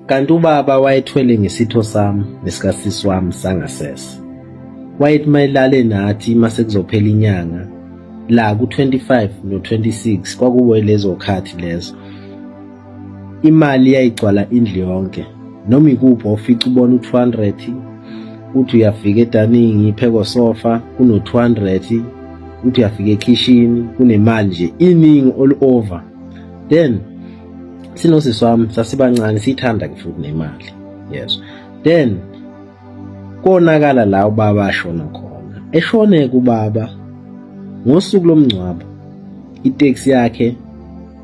Kanti ubaba wayethwele ngesitho sami nesikasisi wami sangasese. Wayethi mayilale nathi uma sekuzophela inyanga la ku-25 no-26 kwakuwe lezo khathi lezo. Imali yayigcwala indlu yonke noma ikuphi ofica ubona u-200 uthi uyafika edaningi ipheko sofa kuno-200 uthi uyafika ekhishini kunemali nje iningi all over then sinosisi wami sasibancane siyithanda ke futhi nemali yes then konakala la ubaba ashona khona eshone kubaba ngosuku lomngcwabo itaxi yakhe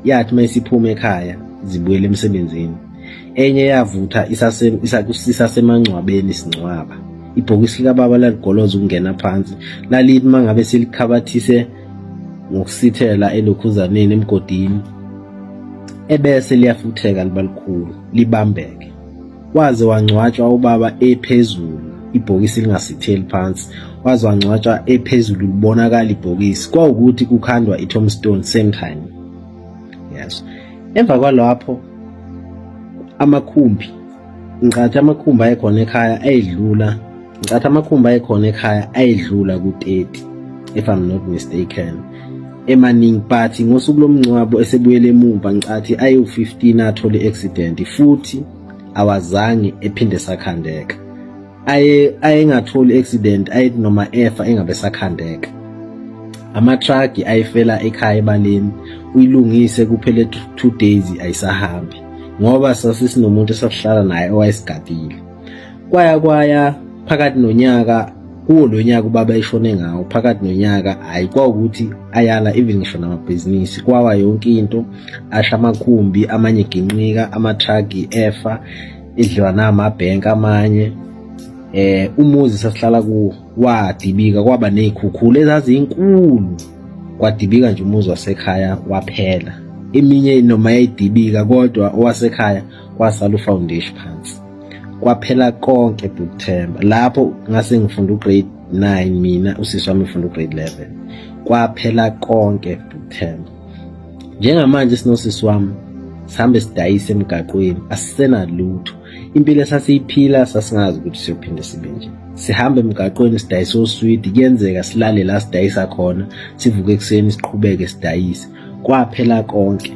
yathi mayisiphuma ekhaya zibuyele emsebenzini enye yavutha isasemangcwabeni singcwaba ibhokisi likababa laligoloza ukungena phansi lalithi mangabe silikhabathise ngokusithela elokhuzaneni emgodini ebese liyafutheka libalikhulu libambeke waze wangcwatshwa ubaba ephezulu ibhokisi lingasitheli phansi waze wangcwatshwa ephezulu libonakala ibhokisi kwawukuthi kukhandwa i-tombstone same time yes emva kwalapho amakhumbi ngicathi amakhumbi ayekhona ekhaya ayedlula ngicathi amakhumbi ayekhona ekhaya ayedlula ku-30 if i'm not mistaken emaningi but ngosuku lomngcwabo esebuyele emuva ngicathi ayewu-15 athole i-accident futhi awazange ephinde sakhandeka aye ayengatholi accident ayethi noma efa engabe sakhandeka amatruck ayifela ekhaya ebaleni uyilungise kuphele 2 days ayisahambi ngoba sasisinomuntu esasihlala naye owayesigadile kwaya kwaya phakathi nonyaka kuwo lo nyaka ubaba eshone ngawo phakathi nonyaka hhayi kwawukuthi ayala even ngisho namabhizinisi kwawa yonke into asha amakhumbi amanye eginqika amathagi efa idliwa namabhenki amanye eh umuzi sasihlala kuwo wadibika kwaba nezikhukhula ezazinkulu kwadibika nje umuzi wasekhaya waphela eminye noma yayidibika kodwa owasekhaya kwasala ufoundation phansi kwaphela konke bukuthemba lapho ngase ngifunda ugrade 9 mina usisi wami ufunda ugrade 11 kwaphela konke bukuthemba njengamanje sinosisi wami sihambe sidayise emgaqweni asisenalutho impilo esasiyiphila sasingazi ukuthi siyophinde sibe nje sihambe emgaqweni sidayise oswidi kuyenzeka silale la sidayisa khona sivuke ekuseni siqhubeke sidayise kwaphela konke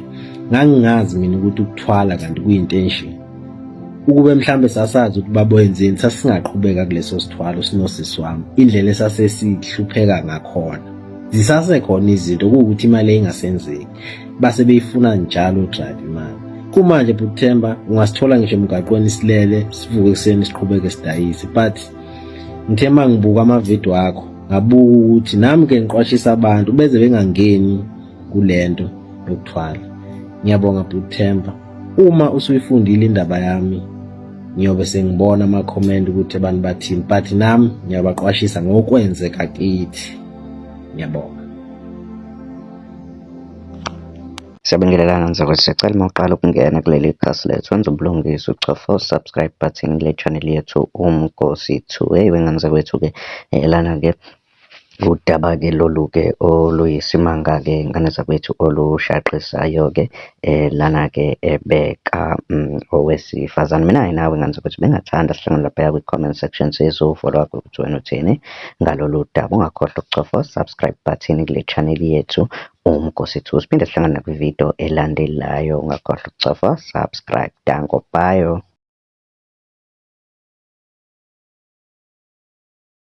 ngangingazi mina ukuthi ukuthwala kanti kuyinto enjeni ukube mhlambe sasazi ukuthi baboyenzeni sasingaqhubeka kuleso sithwalo sinosisi wami indlela esasesihlupheka ngakhona zisasekhona izinto kuwukuthi imali eyingasenzeki base beyifuna njalo drive imali kumanje buthemba ungasithola ngisho emgaqweni silele sivuke ekuseni siqhubeke sidayise but ngithe uma ngibuka amavidiyo akho ngabuka ukuthi nami ke ngiqwashisa abantu beze bengangeni kule nto yokuthwala ngiyabonga buthemba Uma usuyifundile indaba yami ngiyobe sengibona ama-comment ukuthi abantu bathini but nami ngiyabaqwashisa ngokwenzeka kithi ngiyabonga Siyabingelelana mzakwethu siyacela uma uqala ukungena kuleli khasi lethu wenza ubulungiswa uchofa usubscribe button le channel yethu umgosi two hey wengane zakwethu-ke eh, lana-ke Udaba-ke lolu-ke oluyisimanga-ke ngane zakwethu olushaqisayo-ke lana-ke beka owesifazane. Mina-ke nawe ngane zakwethu bengingathanda sihlangane laphaya kwi-comment section sizofolowa ukuthi wena uthini ngalolu daba. Ungakhohlwa ukucofa u-subscribe button kule channel yethu uMgosi Two. Siphinde sihlangane nakwi-video elandelayo, ungakhohlwa ukucofa subscribe. Danko, bye.